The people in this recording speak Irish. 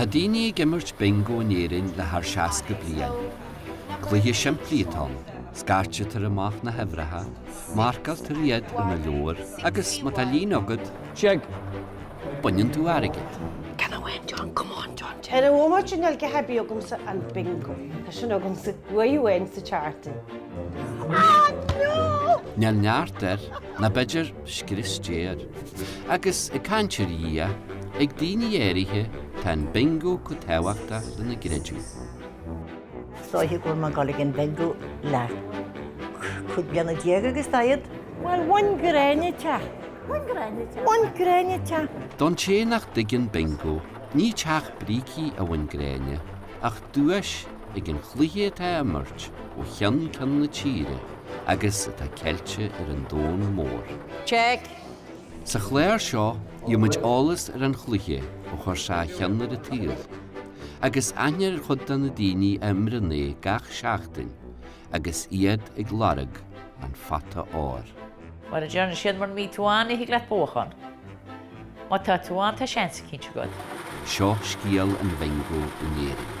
Tá daoine ag imirt Bingo in Éirinn le thar 60 bliain. Cluiche simplí atá ann, scairtear amach na huimhreacha, marcáiltear iad i do leabhar agus, má tá líne agat, Check! baineann tú airgead. Can I win? John, come on, John. An bomaite sin ar ghá a bheith agamsa an bingo. Tá sin agamsa. Where you win sa charity. Ah, no! Níl neart air, nó b'fhéidir scrios Dé air. Agus ag caint ar Dhia, ag daoine áirithe tá an bingo chomh tábhachtach lena gcreideamh. Is dóiche go bhfuil mé ag dul ag an bingo le cúig bliana déag agus daichead. Bhuel, bhain Gráinne teach. Bhain Gráinne teach. Bhain Gráinne teach. Don té nach dtuigeann Bingo, ní teach brící a bhain Gráinne, ach duais ag an chluiche atá á imirt ó cheann ceann na tíre agus atá sceite ar an domhan mór. Check. Sa chlár seo, gheobhaimid eolas ar an chluiche ó chuir sé a cheann ar an tsaol. agus aithne ar chuid de na daoine a imríonn é gach seachtain agus iad ag lorg an phota óir. Mar a deireann siad mura mbíonn tú ann ní thig leat buachán. Má tá tú ann tá seans eicínt agat. Seo scéal an Bhingo in Éirinn.